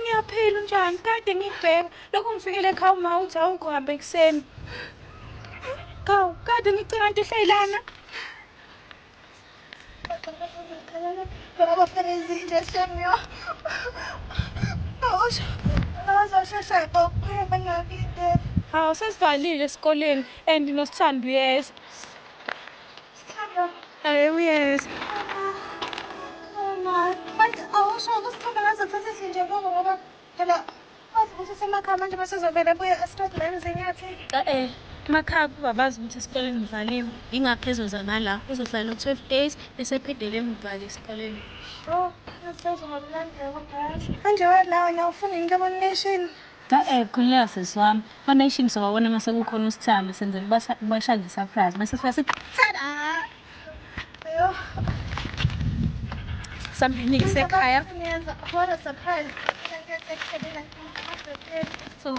Ngiyaphila unjani? Kade ngikubheka. Lokhu ngifikele ekhaya uma uthi awukho hamba ekuseni. Kawu, kade ngicela nto uhleli lana. Abafanezile Samuel. Awusho. Azoshesha ngokuphela bengakulindele. Hawu sesivalile esikoleni and noSithando uyeza. Ay, uyeza. Manje awusho ukuthi khona ngaze thathe sinje bongo ngoba phela wazi ukuthi usemakhaya manje bese uzovele buye esiqedi nami zinyathi. Eh, emakhaya kuba bazi ukuthi esikoleni ngivaliwe. Ingakho ezoza ngala. Uzohlala u-12 days bese ephindele ngivale esikoleni. Oh, ngizozwa ngomlandela kodwa yazi. Manje wena wena ufuna into yobona neshini. Ae khululeka sisi wami one nation sobabona mase kukhona usithando senzela ubasha ubasha nge surprise mase sifika sithi tada Samphini ngisekhaya What a surprise. so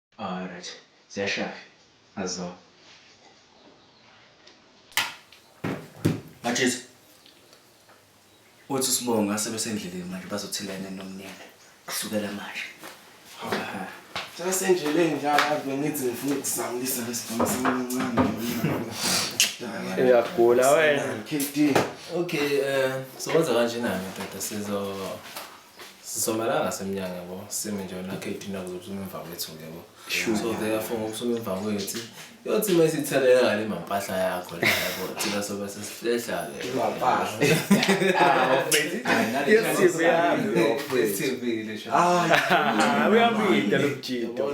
Alright ziyashafi azona. Mathisa. Uthi usibonga sebesendleleni manje bazothelana nomnyeni. Kusukela manje. Hawu. Sebesendleleni njalo ave ngithi ngifuna ukuzamlisa lesibhamu samancane. Uyagula wena. KD. Okay, eh sowenza kanje nami ndoda sizo sisomalanga semnyango yabo sime nje nakhe idina kuzophuma emva kwethu ke bo so therefore ngokuphuma emva kwethu yothi uma isitheleka ngale mampahla yakho la yabo thina sobe sesihlehla ke mampahla uyamida lo mjito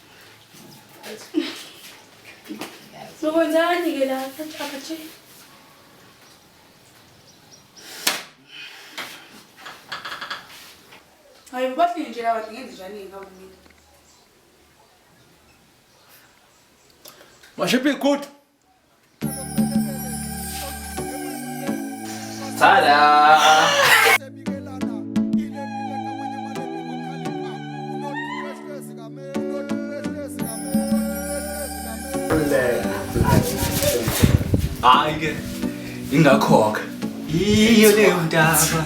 Sokwenzani ke la akathi Hayi bathi nje lawa ngenze njani ngawumile Mashiphi good Tada! Hayi ke ingakhoke. Yiyo leyo ndaba.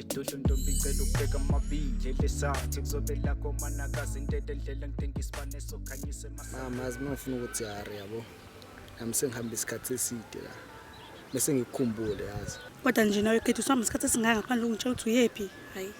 edolo ntombi ngicela ukubheka amabili elesathi kuzobe lakho manakazi intete ndlela ngidinga isibane sokhanyise mama azi mangifuna ukuthi yari yabo nami sengihamba isikhathi eside la bese ngikukhumbule yazi kodwa nje nawe khetha usihamba isikhathi esingaka ngaphandle ungitshela ukuthi uyephi hayi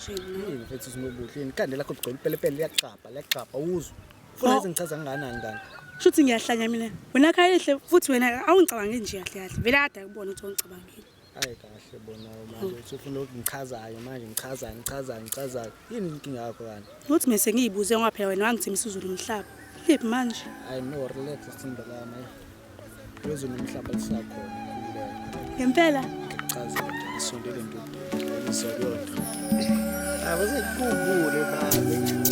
yini mfethu sinobuhle yini ikhanda lakho ligcwele ipelepele liyaxabha liyaxabha uzwe funa oh. ezingichaza nginganani kanti shuthi ngiyahlanya mina wena khayehle futhi wena awungicabange nje kahle kahle vele ada kubona ukuthi ongicabangile Hayi kahle bona manje uthi ufuna ukungichazayo manje ngichaza ngichaza ngichaza yini inkinga yakho kanti? Ukuthi mina sengiyibuze ngoba phela wena wangithembisa uzulu umhlaba. Liphi manje? Hayi no relax sithembe lami. Uzulu umhlaba lisakhona kulelo. Ngempela Chaza nje isondele nto. Isondele. Awuze kubule babe.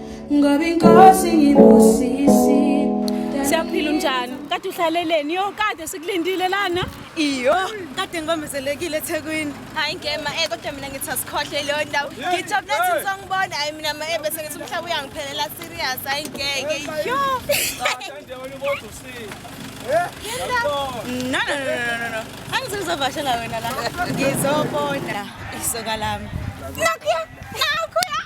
ngoba inkosi ngibusisi siyaphila unjani kade uhlaleleni yo kade sikulindile lana iyo kade ngibambezelekile ethekwini hayi ngema e kodwa mina ngithi asikhohle leyo ndawo ngijabule thi ngizongibona hayi mina ma ebese ngithi umhlaba uyangiphelela serious hayi ngeke yo No, no, no, no, no, no. Angithi ngizovashela wena la. Ngizobona isoka lami. Nakuya.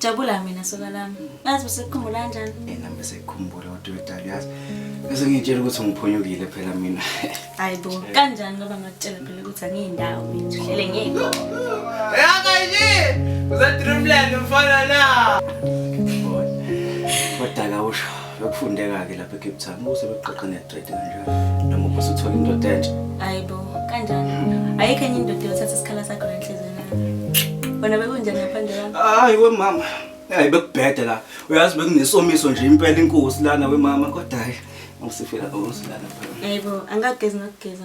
Jabula mina soka lami. Yazi usekukhumbula kanjani? Yena bese ikhumbula kodwa wedala yazi. Bese ngitshela ukuthi ngiphunyukile phela mina. Hayibo, kanjani ngoba ngakutshela phela ukuthi angiyindawo mina uhlele ngeke. Yaka nje. Uza dreamland mfana la. Kodwa la usho. Bekufundeka-ke lapha eCape Town ubuse bekuqoqa ne-dread kanjalo noma ubuse uthole indoda entsha hayi bo kanjani ayikho enye indoda yothatha isikhala sakho nenhliziyo nayo wena bekunjani ngaphandle kwami hayi wemama hayi bekubhede la uyazi bekunesomiso nje impela inkosi lana wemama kodwa hayi usifela osilana phela hayi bo angagezi ngakugeza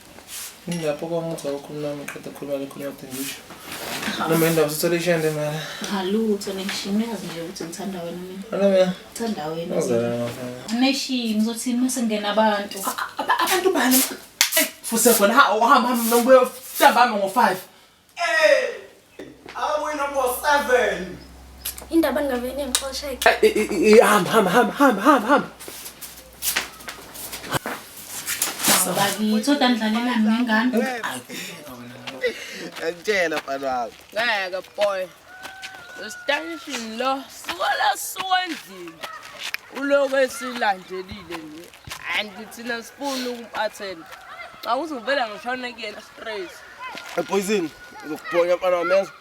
Ngilapho kwangizwa ukukhuluma nami qeda khuluma lokho ngade ngisho. Noma indaba sithole ishende mara. Cha lutho neshini uyazi nje ukuthi ngithanda wena mina. Wena mina. Ngithanda wena. Ozela ngafana. Neshini ngizothini mase ngena abantu. Abantu bani? Fuse khona ha uhamba hamba nobuya ntambama ngo-5. Indaba ningavele ningixoshe. Hamba hamba hamba hamba hamba hamba. Ngithoda ngidlalela ngengane. Ngitshela mfana wami. Ngeke boy. Ustanishini lo suka la suka endlini. Uloku esilandelile nje. and thina sifuna uku-attend xa uzovela ngishone kuyena straight epoisini uzokubhonya mfana wami yazi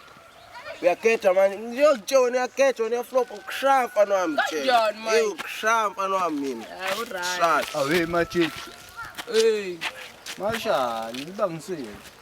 uyakhetha manje ngiyozitshela wena uyakhetha wena uyaflopa ukushaya mfana wami Kanjani manje? Ewu, ukushaya mfana wami mina Ah, uright. Shaya. awe machips Hey. mashani libangisile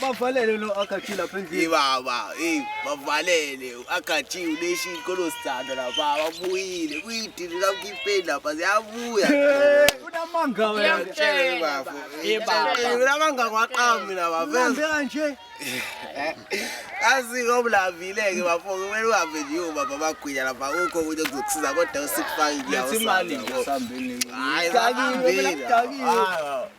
bavalele lo akathi lapha endlini baba hey bavalele akathi uleshi inkolo sithanda la baba buyile kuyidini la ukipeni lapha ziyabuya unamanga wena ngitshele bafo hey baba unamanga kwaqami la baba vele kanje asiko oblavile ke bafo kumele uhambe nje ubaba bagwinya lapha ukho ukuthi kuzokusiza kodwa usikufaki ngiyawo imali nje sambeni hayi sakini hayi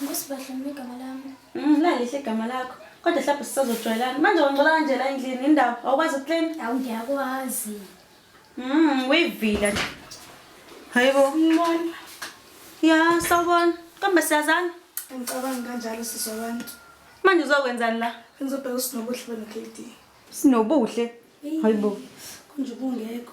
Nkosi bahle mina igama lami. Mm, lalihle igama lakho. Kodwa hlapha sisazojwayelana. Manje wangcola kanje la endlini indawo awukwazi ukuclean. Hawu ngiyakwazi. Mm, uyivila nje. Hayibo. Ngibona. Ya, sawubona. Kambe siyazana. Ngicabanga kanjalo sisi wabantu. Manje uzokwenzani la? Ngizobheka usinobuhle beno KD. Sinobuhle. Hayibo. Kunje ubungekho.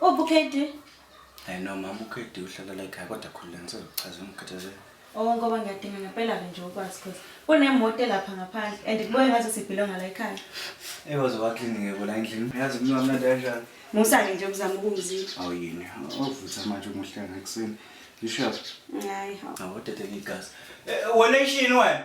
Uphi uKD? Hayi no mama uKD uhlala la ekhaya kodwa khona ngizochaza umkhathazelo. Oh ngoba ngiyadinga ngempela ke nje ukwazi cause kunemoto lapha ngaphandle and kubuye ngaze sibhilonga la ekhaya. Ewazi waklini ngeke la endlini. Uyazi mina wamnandi kanjani? Musa ke nje uzama ukungizila. Awu yini? Ovutha manje umuhle ngakuseni. Yishaphi? Hayi. Awudedeke igazi. Eh, Wena ishini wena?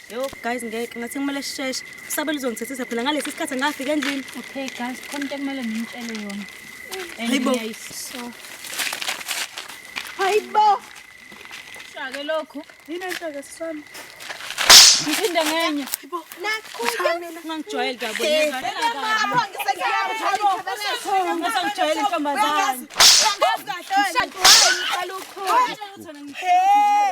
Yo guys ngeke ngathi kumele sisheshe. Usabela uzongithethisa phela ngalesi sikhathi ngafika endlini. Okay guys, khona into ekumele ngimtshele yona. Hayibo. So. Hayibo. Shake lokhu. Yini enhlaka sisami? Ngiphinde ngenye. Hayibo. Nakho ngangijwayele dabo. Ngisangijwayele intombazane. Ngazi kahle wena. Shake wena. Hey.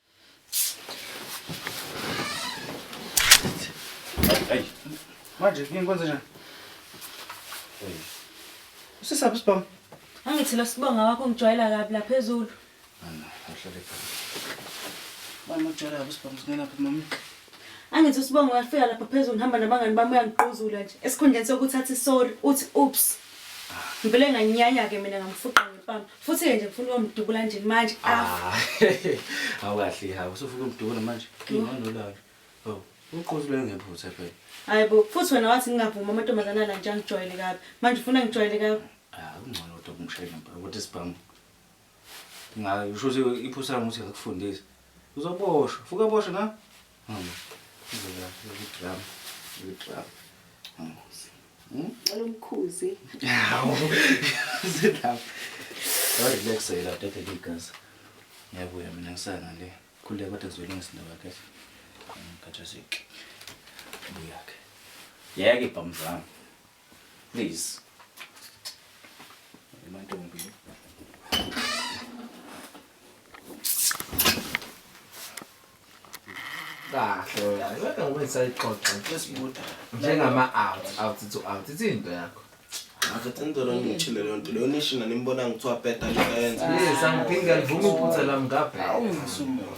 Ayi. Manje ngeke kwenze njani? Usisaphi sibonga? Angithi lo sibonga wakho ngijwayela kabi la phezulu. Ana, uhlale phansi. Mama ujwayela kabi sibonga singena phi mama? Angithi usibonga uyafika lapha phezulu ngihamba nabangani bami uyangiquzula nje. Esikhundleni sokuthatha isorry uthi oops. Ngivele nganyanya ke mina ngamfuqa ngempama. futhi ke nje ngifuna ukumdubula nje manje afa Ah, awukahle hawu usufuna umdubula manje nginganolala oh uqozi lwe ngephutha phela hayi bo futhi wena wathi ngingavuma amantombazane ala nje angijwayele kabi manje ufuna ngijwayele kabi ah kungcono kodwa kumshayela mpela ukuthi sibhamu ngayo usho ukuthi iphusa lami ukuthi ngakufundisa uzoboshwa fuka boshwa na Olumkhuzi. Hawu. Sit down. Relax yela tata ligazi. Ngiyabuya mina ngisana le. Khuleka kodwa ngizolungisa indaba kahle. Ngikhathazeke. Buyake. Yeke bhamzami. Please. Emantombi. Kahle wena. Kodwa ngoba isayixoxa Sesibuda. njengama out out to out ithi into yakho. Akathi ngicela ngimchile leyo nto. Leyo nishina nimbona ngithiwa bheda lento ayenza. Yes, angiphinde alivuma iphutha lami ngabheka. Awungisumuntu.